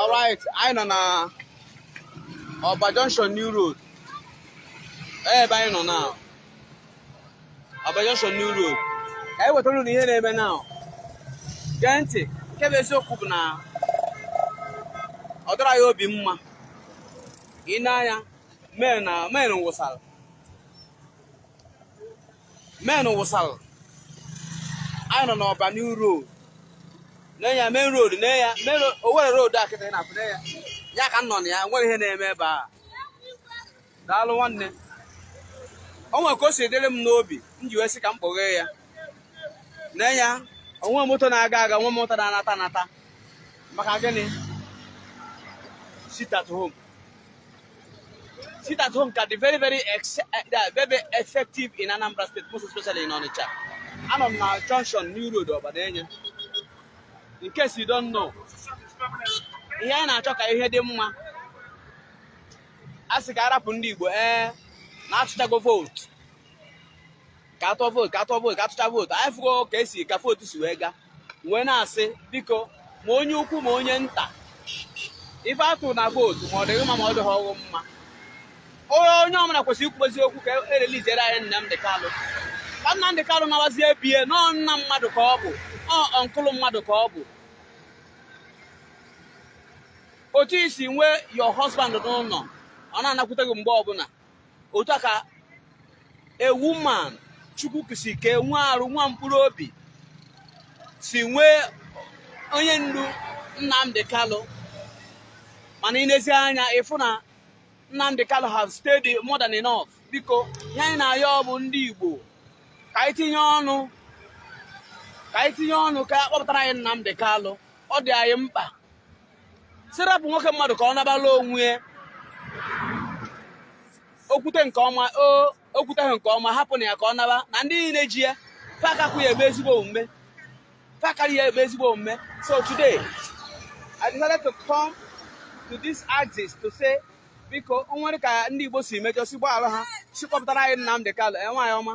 alright anyị nọ na ọba junction new road ebe anyị nọ na ọba junction new road ka anyị wetara unu ihe na-eme na gee ntị nke bụ eziokwu bụ na ọ dịrọ ya obi mma i nee anya men na men wụsara men wụsara anyị nọ n'ọba new road nee nya main road nee nya main owere road a kịta na-apụ nee nya ya ka m nọ na ya nwere ihe na-eme ebe a daalụ nwanne o nwere ka o si dịrị m n'obi m ji wee sị ka m kpọghee ya nee nya o nwe moto na-aga aga o nwe moto na-anata anata maka gịnị sit at home sit at home can be very very ex eh, eh, very effective in Anambra State most especially in Onitsha anọ m na junction New Road Ọba nee nya in case you don't know ihe anyị na-achọ ka ihe dị mma a sị ka a rapụ ndị Igbo ee eh, na a tụchago vootu ka a tụọ vootu ka a tụọ vootu ka a tụcha vootu anyị fụgo ka e si ka vootu si wee gaa wee na-asị biko ma onye ukwu ma onye nta ife a tụ na vootu ma ọ dị gị mma ma ọ dịhọ gị mma onye ọbụla kwesịrị ikwu eziokwu ka e releasere anyị Nnamdị Kalụ ka Nnamdị Kalụ nawazie bie na ọ nna mmadụ ka ọ bụ ọ uncle mmadụ ka ọ bụ otu i si nwee your husband n'ụlọ ọ na-anakwute gị mgbe ọbụla otu a ka a woman chukwu kesi ike nwee arụ nwee mkpụrụ obi si nwee onye ndu Nnamdi Kanu mana i nezie anya ị fụ na Nnamdi Kanu have stayed more than enough biko ihe anyị na-ayọ bụ ndị Igbo ka anyị tinye ọnụ ka anyị tinye ọnụ ka a kpọpụtara anyị Nnamdi Kanu ọ dị anyị mkpa sị rapụ nwoke mmadụ ka ọ naba na o nwee ihe o kwute nke ọma o kwutehọ nke ọma hapụnụ ya ka ọ naba na ndị niile ji ya fa akakwu ya eme ezigbo omume fa akarọ ya eme ezigbo omume so today I decided to come to this axis to say biko o nwere ka ndị Igbo si mejọ sị gbaghara ha sị kpọpụtara anyị Nnamdi Kanu enwe anyị ọma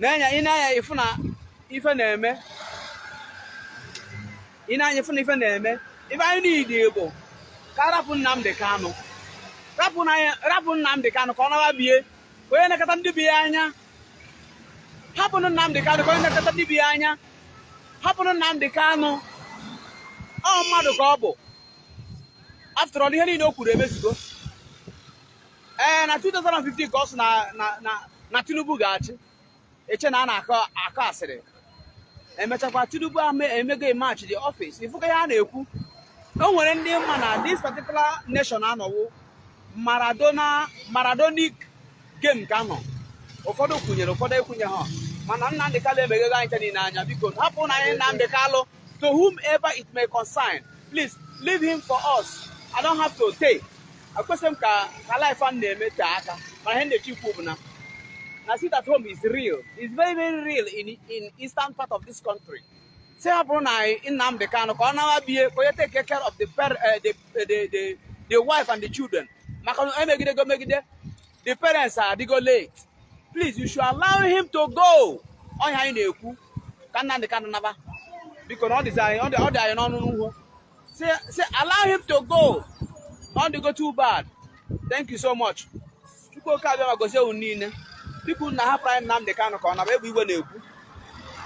nee nya i nee anya ị fụ na ife na-eme i nee anya ị fụ na ife na-eme ife anyị need bụ ka a rapụ Nnamdị Kanụ rapụ Nnamdị Kanụ ka ọ naba bie ka onye nekọta ndị be ya anya hapụnụ Nnamdị Kanụ ka onye nekọta ndị be ya anya hapụnụ Nnamdị Kanụ ọ mmadụ ka ọ bụ after all ihe niile o kwuru emezugo ee eh, na 2015 ka ọ sị na Tinubu ga-achị eche na a na-akọ akọ asịrị emechakwa Tinubu emego match the office ị fụ ka ihe a na-ekwu o nwere ndị ma na this particular nation a na ọ wụ Maradona Maradonic game ka a nọ ụfọdụ kwunyere ụfọdụ ekwunye ha mana Nnamdi Kanu emeghego anyị niile anya biko hapụrụ anyị Nnamdi Kanu to whomever it may concern please leave him for us i don't have to take akwesịghị m ka ka live a na-eme tee aka mana ihe m na-achọ ikwu bụ na na sit at home is real is very very real in in eastern part of this country sị hapụrụ anyị Nnamdi Kanu ka ọ nawa be ya ka onye take care of the, eh, the, eh, the, the, the wife and the children maka na e megidego megide the parents adịgo late please you should allow him to go ọ ihe anyị na-ekwu ka Nnamdi Kanu naba biko na ọ dịzi anyị ọ dị anyị n'ọnụ n'ugwu sị allow him to go na ọ dịgo too bad thank you so much Chukwu Oke Abịama gozie unu niile bikonụ hapụrụ m Nnamdi Kanu ka ọ naba ebe igwe na-ekwu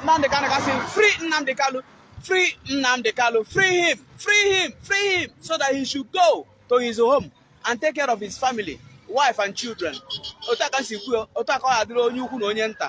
Nnamdi Kanu ka sị free Nnamdi Kanu free Nnamdi Kanu free him free him free him so that he should go to his home and take care of his family wife and children otu a ka m si kwuo otu a ka ọ ga-adịrị onye ukwu na onye nta